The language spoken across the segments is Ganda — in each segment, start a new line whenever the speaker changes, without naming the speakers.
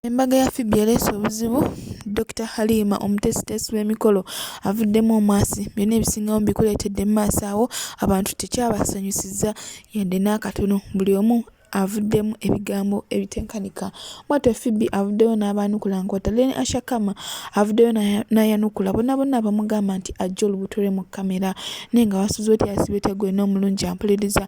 Embaga ya Phoebe ereese obuzibu, Dokita Halima omuteesiteesi w'emikolo avuddemu omwasi, byonna ebisingawo mbikuleetedde mu maaso awo, abantu tekyabasanyusizza yadde n'akatono, buli omu avuddemu ebigambo ebitenkanika. Bwatyo Phoebe avuddeyo n'abaanukula nkwata, Lene Asha Kama avuddeyo n'ayanukula bonna bonna abamugamba nti ajja olubuto lwe mu kkamera naye nga wasuze otya yasibye otya gwena omulungi ampuliriza,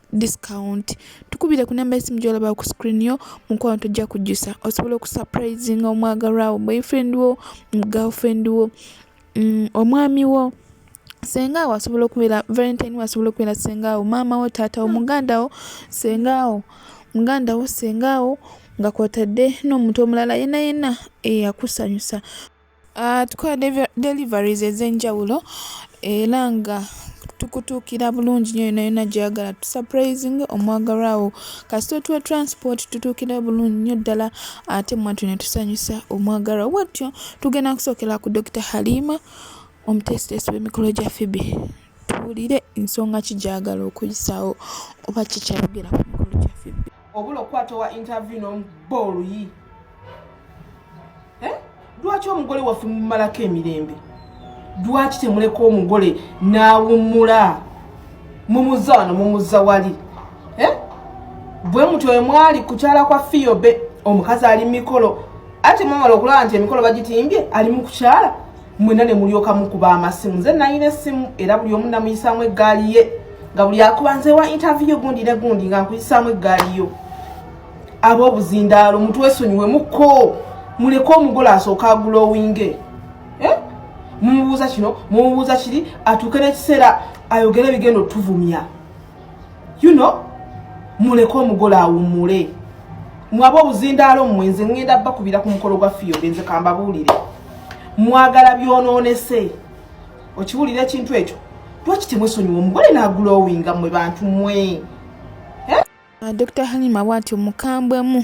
discount tukubire ku namba esimu gyolaba ku screen yo mukwano tujja kujjusa osobola okusurprising omwagalwawo boyfriend wo girlfriend wo mm, omwami wo senga awo asobola okubeera valentine wo asobola okubeera senga awo maama wo taata wo muganda wo senga awo muganda wo senga awo nga kwotadde n'omuntu omulala yena yena eyakusanyusa Ah, tukola deliveries ez'enjawulo era nga tukutuukira bulungi nyo yona yona gyeyagala tusurprising omwagalwawo kasita otuwa transport tutuukira bulungi nyo ddala ate mwattu netusanyusa omwagalwawo bwatyo tugenda kusookera ku dr halima omuteesiteesi w'emikolo gya fibi tuwulire ensonga ki gyagala okuyisaawo oba kikyaogera ku mikolo gya fibi obula okukwata owa
interview nomuba oluyi eh? lwaki omugole waffe mumalako emirembe lwaki temuleka omugole nawumula mumuza wano mumuza wali eh? bwe mutyo emwali kukyala kwa fiyobe omukazi ali mumikolo ate mwamala okulaba nti emikolo bagitimbye ali mukukyala mwena ne mulyoka mukuba amasimu nze nalina essimu era buli omu namuyisaamu eggaali ye nga buli akuba nze wa intaviyo gundi ne gundi nga nkuyisaamu eggaali yo ab'obuzindaalo mutwesonyiwe muko muleke omugole asooka agulowinge eh? mumubuuza kino mumubuuza kiri atuuke n'ekiseera ayogere bigenda otuvumya you know muleke omugole awumule mwaba obuzindaalo mmwe nze ŋŋenda bakubira ku mukolo gwa fiyobe nze kambabuulire mwagala byonoonese okiwulira ekintu ekyo lwaki temwesonyiwa omugole nagulowinga mmwe bantu mmwe eh?
ah, dr halima bwatyo mukambwemu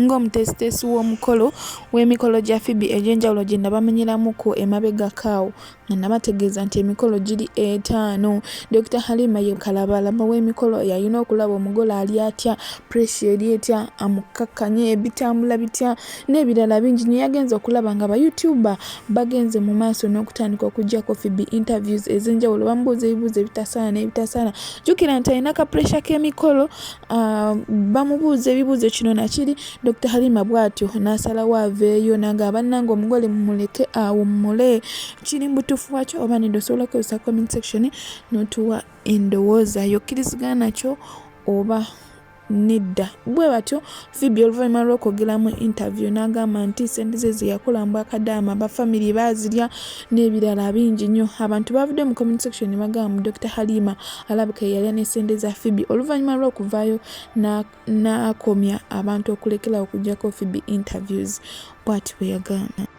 ng'omutesitesi w'omukolo w'emikolo gya fibi egy'enjawulo gye nabamenyeramuko emabegakaawo nga nabategeeza nti emikolo giri etaano dokita halima ye kalabalaba w'emikolo yalina okulaba omugole ali atya pressure eri etya amukakkanye ebitambula bitya n'ebirala bingi nyo yagenze okulaba nga bayoutuba bagenze mu maaso n'okutandika okujjako fibi interviews ez'enjawulo bamubuuza ebibuuzo ebitasaana n'ebitasaana jjukira nti alina ka pressure k'emikolo Ah, bamubuuza ebibuuzo kino nakiri dr halima bwatyo nasalawo aveeyo nanga abananga omugole mumuleke awummule kiri mubutuufu wakyo oba nede osobola okozesa comment section notuwa endowooza yokkirizigana kyo oba nedda bwe batyo Phoebe oluvannyuma lw'okwogera mu interview n'agamba nti ssente ze ze yakola mu bwakadaama ba famire baazirya n'ebirala bingi nnyo abantu baavudde mu comment section ne bagamba mu dr halima alabika ye yalya ne ssente za Phoebe oluvannyuma lw'okuvaayo n'akomya abantu okulekerawo okugyako Phoebe interviews bw'ati bwe yagamba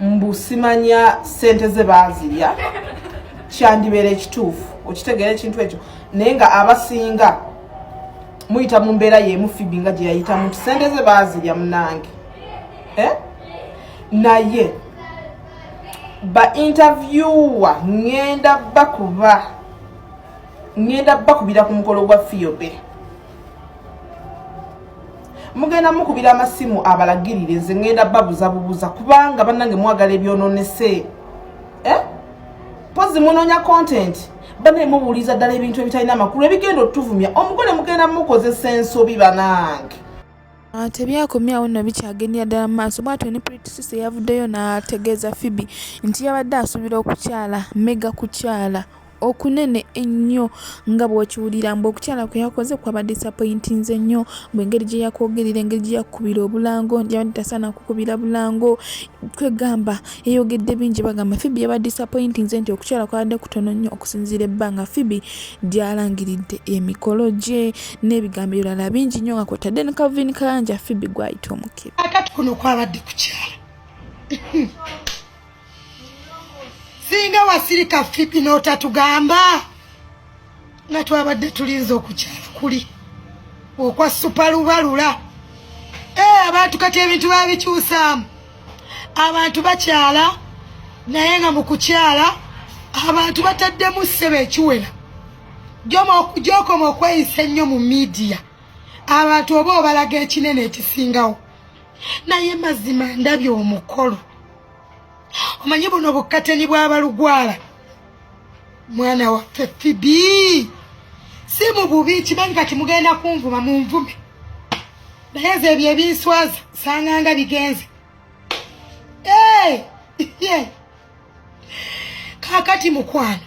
mbu simanya sente ze bazirya kyandibeera ekituufu okitegeera ekintu ekyo naye nga abasinga muyita mu mbeera yemu fibi nga gye yayitamu nti sente ze bazirya munange eh? naye ba interviewer ngenda bakuba ngenda bakubira ku mukolo gwa fiyobe mugenda mukubira amasimu abalagirire nze ngenda babuza bubuza kubanga banange mwagala ebyononese eh? pozi munonya content banaye mubuuliza ddala ebintu ebitalina amakulu ebigenda otuvumya omugole mugenda mukozesa ensobi banange Ah,
tebyakomyawo nno bikyagendera ddala mu maaso bwatyo ne pritisisi eyavuddeyo n'ategeeza fibi nti yabadde asuubira okukyala mega kukyala okunene ennyo nga bw'okiwulira mbu okukyala kwe yakoze kwaba disappointinze nnyo mbu engeri gye yakwogerera engeri gye yakukubira obulango nti yabadde tasaana kukubira bulango kwegamba yayogedde bingi bagamba fibi yaba disappointinze nti okukyala kwabadde kutono nnyo okusinziira ebbanga fibi gyalangiridde emikolo gye n'ebigambo ebirala bingi nnyo nga kwotadde ne calvin kayanja fibi gwayita omukebe akati kuno kwabadde
kukyala singa wasirika fipi n'otatugamba nga twabadde tulinza okukyala kuli okwa supalubalula ee eh, abantu kati ebintu babikyusaamu abantu bakyala naye nga mu kukyala abantu bataddemu ssebe ekiwera gyokoma okweyisa ennyo mu midiya abantu oba obalaga ekinene ekisingawo naye mazima ndabye omukolo omanyi buno bukkateni bw'abalugwala mwana waffe fibi si mu bubi kimanyi kati mugenda kunvuma mu nvume naye nze ebyo ebinswaza sanganga bigenze hey! yeah. kakati mukwano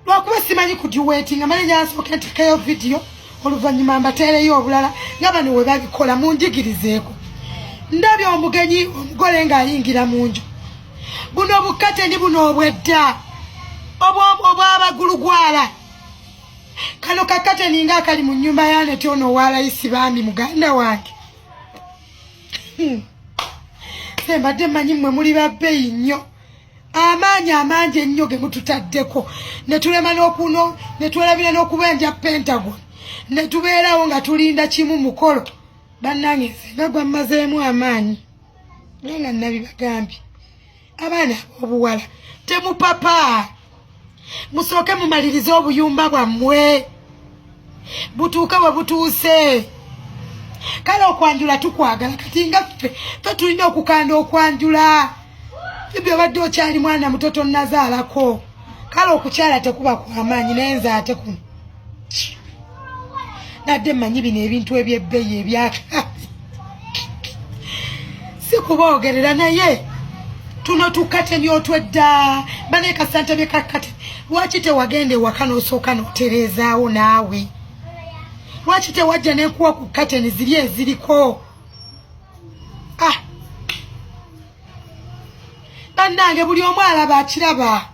lwakuba simanyi kudiwetinga mane nyansooka ntekayo vidiyo oluvannyuma mbateereyo obulala nga bano we babikola munjigirizeeko ndabye omugenyi omugole ng'ayingira mu nju buno bukate ni buno obwedda obwabagulugwala kano kakate ninga akali mu nnyumba yaneti ono owalayisi bambi muganda wange Hmm. nze mbadde manyi mmwe muli babbeyi nnyo amaanyi amangi ennyo ge mututaddeko ne tulema n'okuno ne twelabira n'okubenja pentagon ne tubeerawo nga tulinda kimu mukolo bannange nze nga gwammazeemu amaanyi naye nga nabibagambye abaana abobuwala temupapa musooke mumalirize obuyumba bwammwe butuuke we butuuse kale okwanjula tukwagala kati nga ffe fe tulina okukanda okwanjula ebyo obadde okyali mwana muto tonnazaalako kale okukyala tekuba kwamaanyi naye nze ate kuno nadde manyi bino ebintu ebyebbeyi ebyaka sikuboogerera naye tuno tukateni otwedda bane kasante byekakate lwaki tewagenda ewaka nosooka notereezaawo naawe lwaki tewajja nenkuwa ku kateni ziri eziriko ah. bannange buli omu alaba akiraba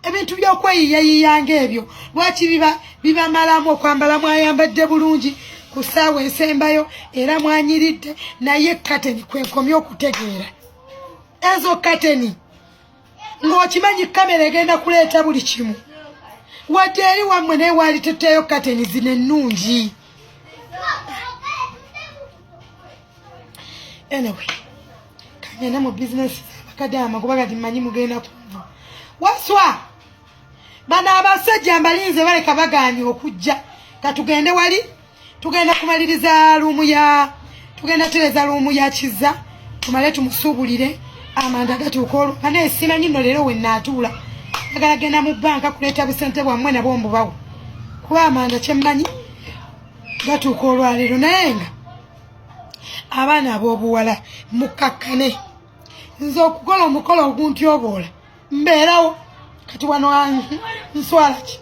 ebintu by'okweyiyayiya ng'ebyo lwaki biba bibamalamu okwambala mwayambadde bulungi ku ssaawa ensembayo era mwanyiridde naye kateni kwenkomye okutegeera ezo kateni ng'okimanyi kamera egenda kuleeta buli kimu wadde eri wammwe naye waali tetteeyo kateni zino ennungi anyway kangenda mu bizinesi kadaama kuba kati mmanyi mugenda kunva waswa bano abasajja mbalinze baleka baganye okujja katugende wali tugenda kumaliriza luumu ya tugenda tereza luumu ya kiza tumale tumusuubulire amanda gatuuka olwo ana esimanyi nno leero wenaatuula agala genda mu bbanka kuleeta busente bwammwe nabwo mbubawo kuba amanda kyemmanyi gatuuka olwaleero naye nga abaana ab'obuwala mukakkane nze okukola omukolo oguntyoboola mbeerawo kati wano nswala ki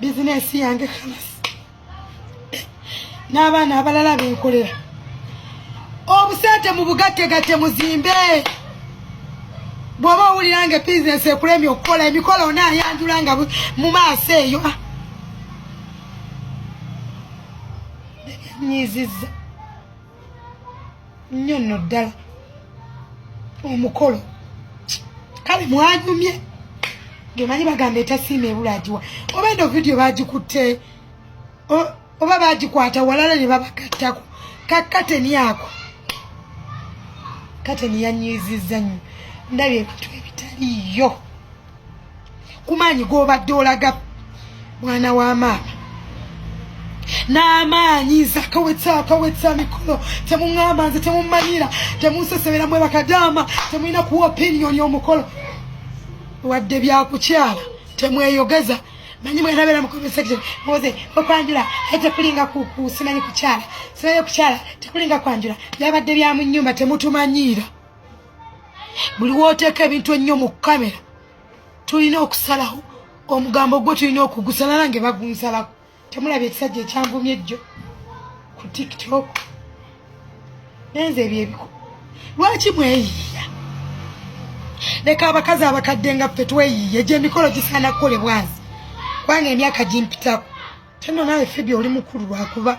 bizinesi yange kalasi n'abaana abalala benkolera obusente mu bugattegatte muzimbe bw'oba owulira nga bizinesi ekulemye okukola emikolo onaayanjula nga mu maaso eyo nyiziza nnyo nno ddala omukolo kale mwanyumye ngemanyi bagamba etasiima ebula agiwa oba eno vidiyo bagikutte oba bagikwata walala ne babagattako kakateni ako kateni yanyiziza nnyo ndabye ebintu ebitaliyo kumaanyi gobadde olaga mwana wa maama n'amaanyi nze akawetsa akawetsa mikolo temuŋamba nze temumanyira temunsesebera mwe bakadaama temulina kuwa opiniyoni omukolo wadde byakukyala temweyogeza manyi mwe nabera mu comment section moze okwanjula ete kulinga ku ku simanyi kukyala simanyi kukyala tekulinga kwanjula byabadde bya mu nyumba temutumanyiira buli woteeka ebintu ennyo mu kamera tulina okusalaho omugambo gwo tulina okugusala nange bagunsalako temulabye ekisajja ekyanvumye ejjo ku tiktok nenze ebyo ebiko lwaki mweyiiya leka abakazi abakadde nga ffe tweyiiye gyemikolo gisaana kukolebwazi kubanga emyaka gimpitako Tena naye Phoebe oli mukulu lwakuba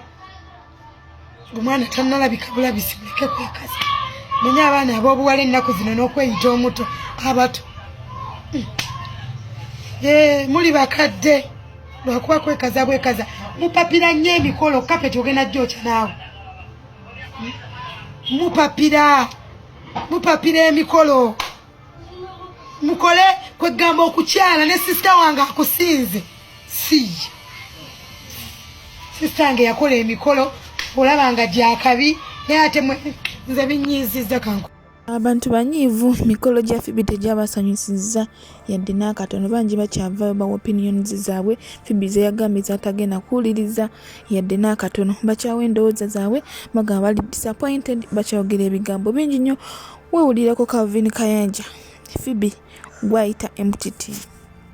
omwana tanalabika bulabisi muleke kwekaza manye abaana ab'obuwala ennaku zino n'okweyita omuto abato hmm. eh, muli bakadde lwakuba kwekaza bwekaza mupapira nnyo emikolo kapeti ogenda jooca naawe hmm. mupapira mupapira emikolo mukole kwegamba okukyala ne sisita wange akusinze siye sisita wange yakola emikolo olaba nga gyakabi naye ate nze binyiiziza kanku abantu banyiivu
mikolo gya fibi tegyabasanyusizza yadde n'akatono bangi bakyavayo bawa opinions zaabwe fibi zeyagambye zatagenda kuwuliriza yadde n'akatono bakyawa endowooza zaabwe bagamba bali disappointed bakyayogera ebigambo bingi nnyo Wewulireko Calvin Kayanja, Phoebe gwayita emutiti.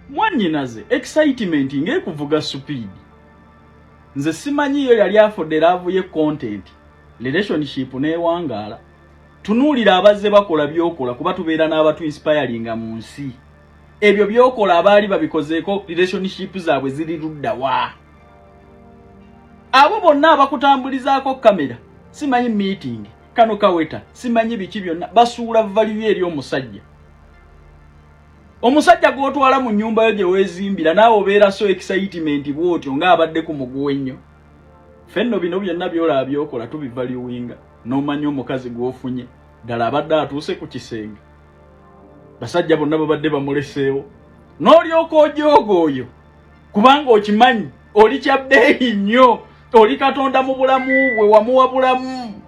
Mwanyinaze
excitement ng'ekuvuga supiidi. Nze simanyi yo yali afudde laavu ye content relationship n'ewangaala. Tunuulira abazze bakola by'okola kuba tubeera n'abatu inspiringa mu nsi. Ebyo by'okola abaali babikozeeko relationship zaabwe ziri ludda wa? Abo bonna abakutambulizaako kamera simanyi meeting. kano kaweta simanyi biki byonna basuula valiyo eri omusajja omusajja gwotwala mu nyumba yo gyewezimbira naawe obeera so excitement bwotyo ngaabadde ku muguwa ennyo fenno bino byonna byolaba byokola tubivaliwinga nomanya omukazi gwofunye ddala abadde atuuse ku kisenge basajja bonna babadde bamuleseewo n'olyoka ojooga oyo kubanga okimanyi oli kya bbeeyi nnyo oli katonda mu bulamu bwe wamuwa bulamu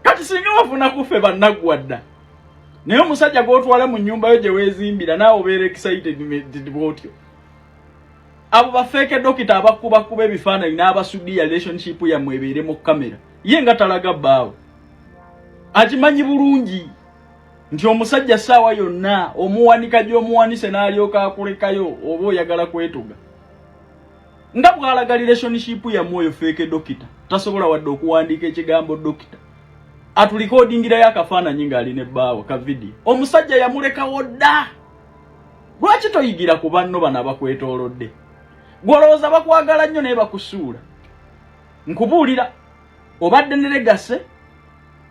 kati singa wafuna kuffe bannaggwa dda naye omusajja gw'otwala mu nnyumba yo gye weezimbira naawe obeera excited bwotyo abo bafeeke dokita abakubakuba ebifaananyi n'abasudiya relationship yammwe ebeere mu kamera ye nga talaga bbaawe akimanyi bulungi nti omusajja saawa yonna omuwanika gyomuwanise nalyoka akulekayo oba oyagala kwetuga nga bwalaga relationship yamwe oyo feeke dokita tasobola wadde okuwandiika ekigambo dokita atulikodingirayo akafaananyi ngaali ne bbaawo ka vidiyo omusajja yamulekawo dda lwaki toyigira ku banno bano abakwetoolodde gwolowooza bakwagala nnyo naye bakusuula nkubuulira obadde ne legase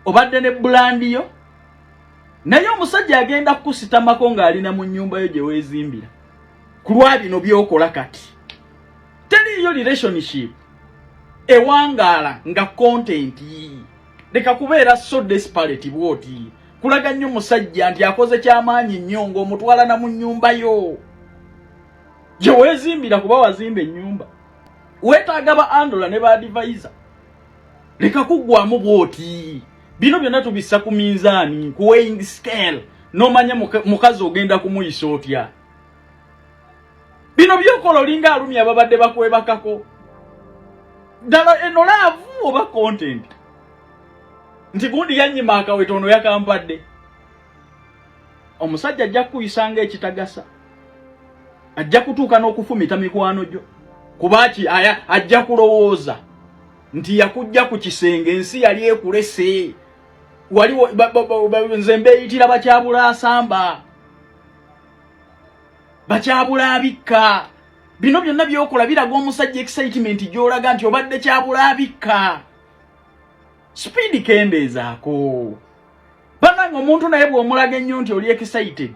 obadde ne bulandi yo naye omusajja agenda kukusitamako ng'ali na mu nnyumba yo gye weezimbira ku lwa bino by'okola kati teriiyo relationship ewangaala nga kontenti yiyi leka kubeera so desperate bwoti kulaga nnyo musajja nti akoze kyamaanyi nnyo ng'omutwalana mu nnyumba yo gye weezimbira kuba wazimba ennyumba wetaaga ba andola ne ba adivaiza leka kuggwamu bwoti bino byonna tubissa ku minzaani ku weighing scale nomanya mukazi ogenda kumuyisa otya bino byokola olinga alumi ababadde bakwebakako ddala eno laavu oba content nti gundi yanyima akawetono yakampadde omusajja ajja kukuyisa ng'ekitagasa ajja kutuuka n'okufumita mikwano gyo kuba ki aya ajja kulowooza nti yakujja ku kisenge ensi yali ekulese waliwo nze mbeeyitira bakyabula asamba bakyabula abikka bino byonna byokola biraga omusajja excitement gyolaga nti obadde kyabula abikka sipiidi kendeezaako banange omuntu naye bwomulaga ennyo nti oli excited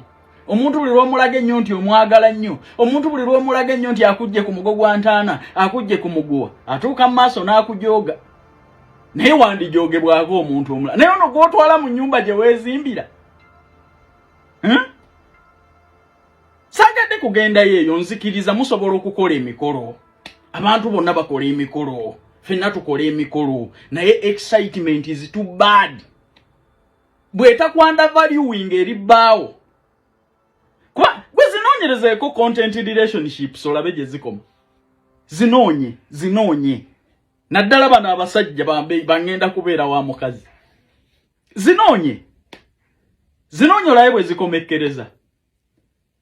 omuntu buli lwomulaga ennyo nti omwagala nnyo omuntu buli lwomulaga ennyo nti akujje ku mugo gwa ntaana akujje ku muguwa atuuka mu maaso n'akujooga naye wandijoogebwako omuntu omula naye ono gwotwala mu nyumba gye weezimbira hmm? sagadde kugendayo eyo nzikiriza musobola okukola emikolo abantu bonna bakola emikolo fenna tukola emikolo naye excitement is too bad bwetakwanda valuing eri bbaawo kuba gwe zinoonyerezeeko content relationships olabe gye zikoma zinoonye zinoonye naddala bano abasajja bangenda kubeera wa mukazi zinoonye zinoonye olabe bwe zikomekkereza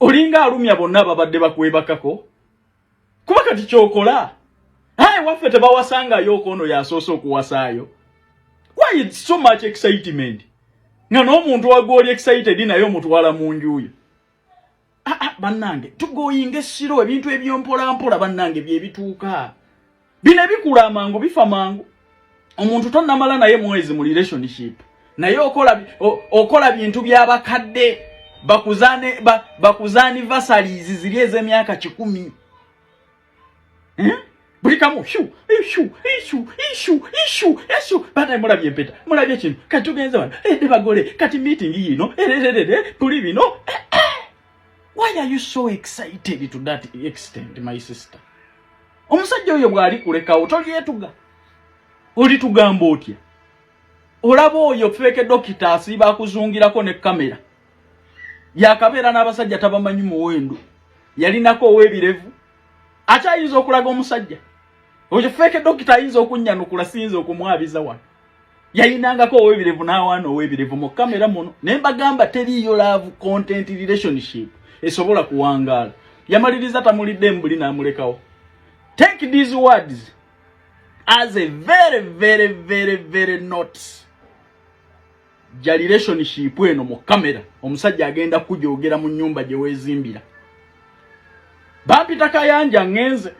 olinga alumya bonna ababadde bakwebakako kuba kati kyokola aye waffe tebawasangayo okoono yasoose okuwasaayo why it's so much excitement nga n'omuntu wagwoli excited naye omutwala mu njuyo ah, ah, bannange tugoyinga essiro ebintu ebyompolampola bannange byebituuka bino ebikula amangu bifa mangu omuntu tonamala naye mwezi mu relationship naye okola okola bintu byabakadde bakuzane ba, bakuzani vasalizi ziri ezemyaka kikumi hmm? buli kamu shu ishu ishu ishu ishu ishu bana mulabye empeta mulabye kino kati tugenze wano ede eh, bagole kati meeting yino erererere eh, eh, tuli bino why are you so excited to that extent my sister omusajja oyo bwali kulekawo tolyetuga olitugamba otya olaba oyo feeke dokita asiiba akuzungirako ne kamera yakabeera n'abasajja tabamanyi muwendo yalinako owebirevu akyayinza okulaga omusajja oyo feeke dokita ayinza okunnyanukula siyinza okumwabiza wano yayinangako owebirevu n'awaana owebirevu mu kamera muno naye mbagamba teriiyo love content relationship esobola kuwangaala yamaliriza tamulidde mbuli n'amulekawo take these words as a very very very very notes ja relationship eno mu kamera omusajja agenda kujogera mu nyumba gye weezimbira bampita kayanja ngenze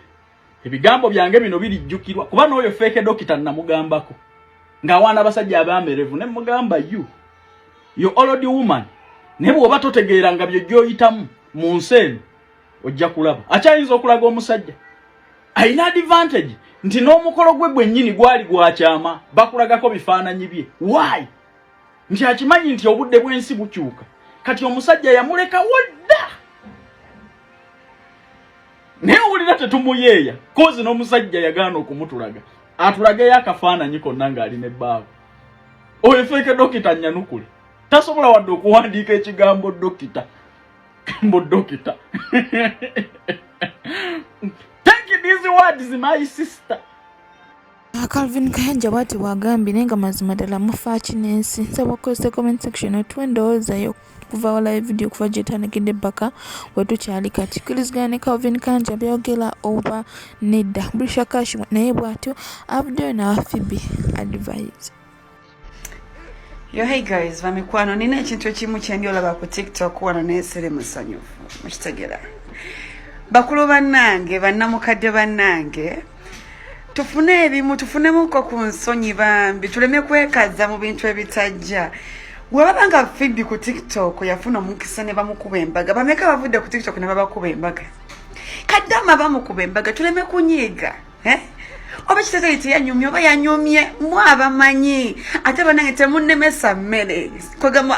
ebigambo byange bino birijjukirwa kuba n'oyo feeke dokita namugambako ng'awaana abasajja abamerevu ne mugamba you yo old woman naye bw'oba totegeera nga byo gy'oyitamu mu nsi eno ojja kulaba akyayinza okulaga omusajja alina advantage nti n'omukolo gwe gwennyini gwali gwakyama bakulagako bifaananyi bye why nti akimanyi nti obudde bw'ensi bukyuka kati omusajja yamulekawo dda naye wulira tetumuyeeya kozi n'omusajja yagaana okumutulaga atulageyo akafaananyi konna ng'ali ne bbaawe oyo feeke dokita nyanukule tasobola wadde okuwandiika ekigambo dokita kambo dokita take these words my sister Ah,
Calvin Kayanja bwati bwagambye naye nga mazima ddala mufaaki n'ensi nsaba okukozesa comment section otuwa endowooza yo kuva walayo vidiyo okuva gyetandikidde bbaka wetukyali kati kirizigana ne calvin kanja byogera oba nedda bulisha kash naye bwatyo avuddeyo nawa fibi advise
Yo hey guys, bamikwano nina ekintu ekimu kyendi olaba ku TikTok wano nesere musanyufu. Mukitegera. Bakulu bannange, bannamukadde bannange, tufune ebimu tufunemuko ku nsonyi bambi tuleme kwekaza mu bintu ebitajja webaba nga fibi ku tiktok yafuna omukisa ne bamukuba embaga bameka bavudde ku tiktok ne babakuba embaga kaddama bamukuba embaga tuleme kunyiiga eh? oba ekitezo ye teyanyumye oba yanyumye mu abamanyi ate banange temunemesa mmere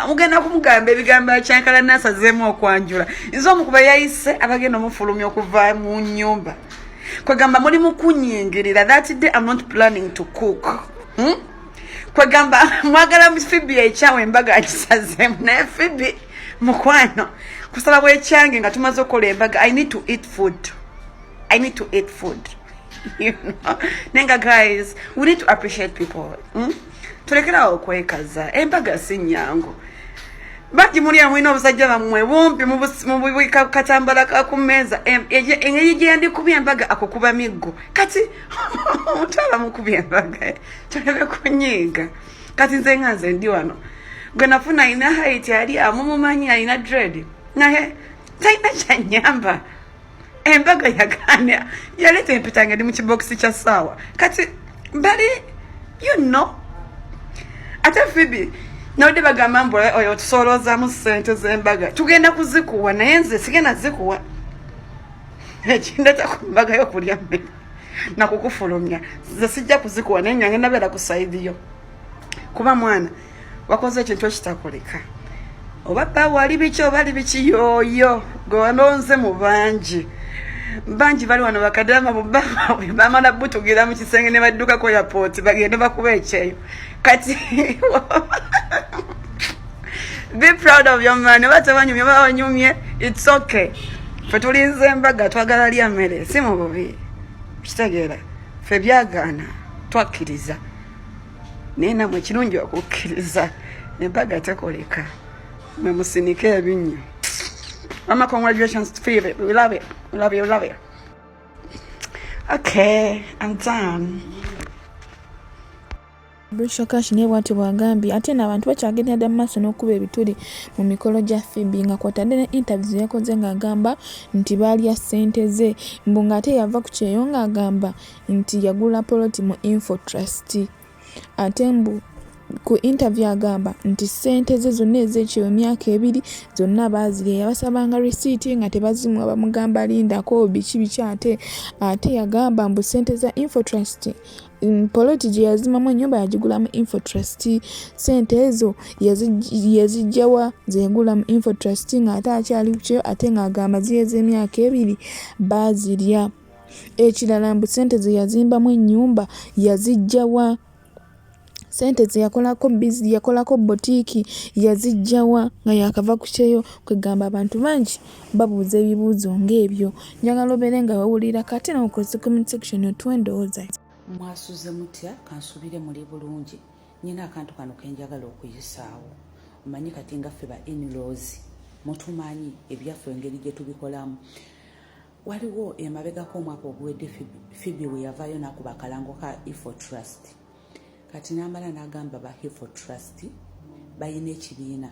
mugenda kumugamba ebigambo akyankala nasazeemu okwanjula nze omukuba yayise abagenda omufulumya okuva mu nyumba kwegamba muli mukunyingirira that day am not planning to cook hmm? kwegamba mwagala fibi ekyawo embaga akisazeemu naye fibi mukwano kusalawo ekyange nga tumaze okukola embaga i need to eat food I need to eat food. you know? Nenga guys, we need to appreciate people. Hmm? Tulekerawo kwekaza. Embaga si nyangu. Bati muri ya mwino obusajja bamwe bumpi mububwe katambala ka kumeza engeri gye ndi kubye embaga akukuba miggo kati mutala mukubye embaga tulebe kunyiga kati nze nga nze ndi wano gwe nafuna ina height yali amumumanyi alina dread naye talina kyanyamba embaga yagaana yaleeta empeta nga ndi mu kibokisi kya saawa kati bali you know ate fibi nabadde bagamba mbu eh, oyo otusooloozamu sente zembaga tugenda kuzikuwa naye nze sigenda zikuwa ekindeta ku mbaga yokulya mmere nakukufulumya nze sijja kuzikuwa naye nyange nabeera ku saidiyo kuba mwana wakoze ekintu ekitakulika oba bba wali biki oba ali biki yooyo gwe walonze mu bangi bangi bali wano bakadama bubaawe bamala butugira mu kisenge ne baddukako yapooti bagende bakuba ekyeyo kati be proud of your man oba tebanyumye oba banyumye its okay fe tulinze embaga twagala lya mmere si mu bubi kitegeera fe byagaana twakkiriza naye namwe kirungi okukkiriza embaga tekoleka mwe musinike ebinnyo mama congratulations fave we love it we love you we love you okay i'm done
Brisho Cash naye bwatyo bwagambye ate no abantu bakyagendera dda mu maaso n'okukuba ebituli mu mikolo gya Phoebe nga kwatadde ne interviews yakoze ng'agamba nti baalya ssente ze mbu ng'ate yava ku kyeyo ng'agamba nti yagula poloti mu Infotrust ate mbu ku interview agamba nti ssente ze zonna ez'ekyo emyaka ebiri zonna baazirya yabasabanga risiiti nga tebazimuwa bamugamba lindako biki biki ate ate yagamba mbu ssente za infotrust mm, poloti gye yazimamu ennyumba yagigulamu infotrust ssente ezo yazijjawa zegula mu infotrust ng'ate akyali kukyo ate ng'agamba ziyo ez'emyaka ebiri baazirya Ekirala mbu ssente ze yazimbamu ennyumba yaziggya wa? Ssente ze yakolako bizi yakolako bbotiiki yaziggya wa nga yaakava ku kyeyo? Kwegamba abantu bangi babuuza ebibuuzo ng'ebyo. Njagala obeere nga wewulirako ate nawe okozese comment section otuwe endowooza yo. Mwasuze
mutya? Kansuubire muli bulungi. Nnina akantu kano ke njagala okuyisaawo. Omanyi kati nga ffe ba in-laws mutumanyi ebyaffe engeri gye tubikolamu. waliwo emabegako omwaka oguwedde fibi we yavaayo nakuba akalango ka ifo trust kati namala nagamba ba ifo trust balina ekibiina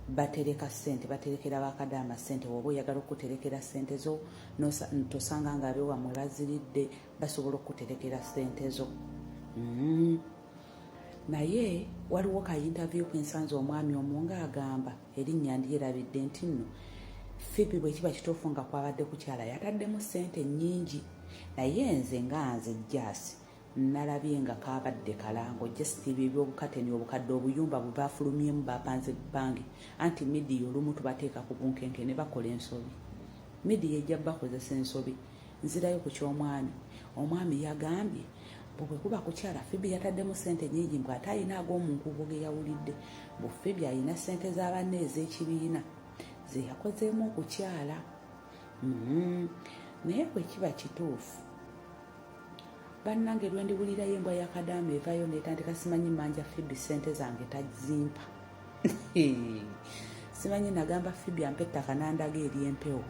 batereka sente baterekera bakadaama sente woba oyagala okuterekera sente zo tosanga nga abewamwe baziridde basobola okuterekera sente zo mm. naye waliwo ka interview kwensanza omwami omu nga agamba erinnya ndyerabidde nti nno fibi bwe kiba kituufu nga kwabadde kukyala yataddemu ssente nnyingi naye nze nga nze jaasi nalabye nga kabadde kalango just ebyo ebyobukateni obukadde obuyumba bwe bafulumyemu bapanze bangi anti midiya olumu tubateeka ku bunkenke ne bakola ensobi midiya ejja bakozesa ensobi nzirayo ku ky'omwami omwami yagambye bwe kuba kukyala fibi yataddemu sente nyingi mbw ate alina ag'omunkuubo ge yawulidde bu fibi alina sente za banne ez'ekibiina ze yakozeemu okukyala mm-hmm. naye bwe kiba kituufu bannange lwendiwulirayo embwa yakadaama evayo netandika simanyi manja fibi sente zange tazimpa simanyi nagamba fibi ampa ettaka nandaga eri empewo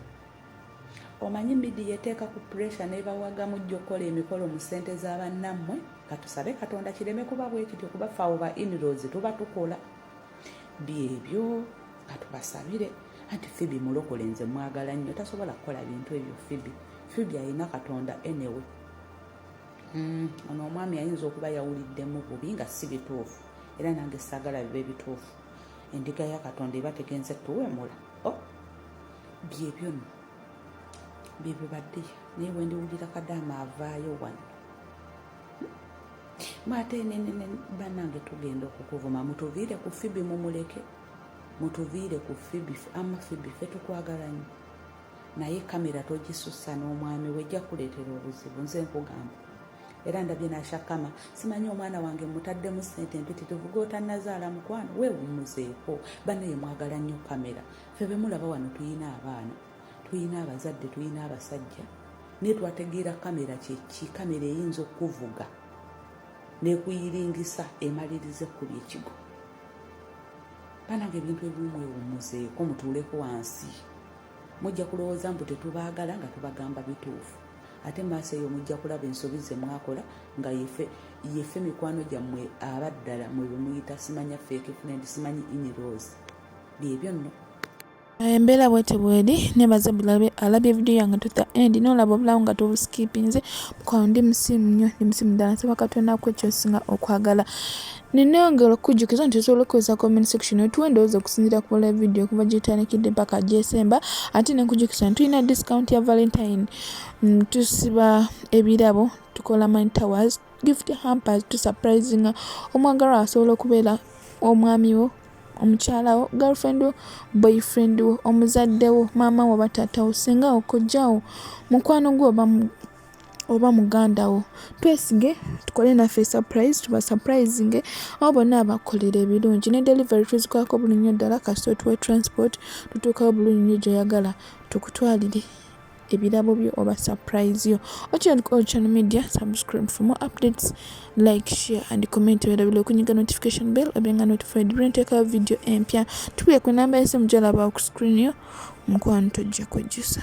omanyi midiya eteeka ku puresha nebawagamu jja okukola emikolo mu ssente za bannammwe katusabe katonda kireme kuba bwekityo kuba fawo ba inrozi tuba tukola byebyo katubasabire anti fibi mulokole nze mwagala nnyo tasobola kukola bintu ebyo fibi fibi alina katonda enewe mm, ono omwami ayinza okuba yawuliddemu bubi nga si bituufu era nange sagala biba ebituufu endiga ya katonda eba tegenze tuwemula oh. byebyo no byebibadde naye wendiwulira kadaama avaayo wano maate nenene banange tugenda okukuvuma mutuviire ku fibi mumuleke mutuviire ku fibi ama fibi fe tukwagalanyo naye kamera togisussa n'omwami we ejja kuleetera obuzibu nze nkugamba era ndabye nashakama simanyi omwana wange mutaddemu sente mpitirivu gotanazaala mukwano wewumuzeeko banaye mwagala nnyo kamera ffe bemulaba wano tulina abaana tulina abazadde tulina abasajja naye twategeera kamera kyeki kamera eyinza okukuvuga nekuyiringisa emaliriza ekkuba ekigo banange ebintu ebimu mwewumuzeeko mutuuleko wansi mujja kulowooza mbu tetubaagala nga tubagamba bituufu ate maaso eyo mujja kulaba ensobi ze mwakola nga yefe yefe mikwano gyammwe abaddala mwe bemuyita simanya fake friend simanyi inirose byebyo nno embeera
bwete bweri nebaze bulabe alabye vidiyo yange tuta end nolaba obulawo nga tubuskipinze mukwano ndi musimu nnyo ndi musimu ddala nsaba katonda ku ekyosinga okwagala neneyongera okukujjukiza nti osobola okukozesa comment section otuwa endowooza okusinziira ku live video okuva gyetandikidde mpaka gyesemba ate nenkujjukiza nti tulina discount ya valentine mm, tusiba ebirabo tukola mine towers gift hampers tusurprisinga omwagalwa asobola okubeera omwami wo omukyala wo girlfriend wo boyfriend wo omuzadde wo maama wo oba taata wo senga wo kojja wo mukwano gwo oba oba muganda wo twesige tukole naffe surprise tuba surprising abo bonna abakolera ebirungi ne delivery tuzikwako buli nnyo ddala kasita otuwa transport tutuukawo bulungi nnyo gyoyagala tukutwalire ebirabo byo oba surprise yo okyali ku channel media subscribe for more updates like share and comment werabile okunyiga notification bell obenga notified bwenteka video empya tukuye ku namba yesimu gyolaba ku screen yo mukwano tojja kwejjusa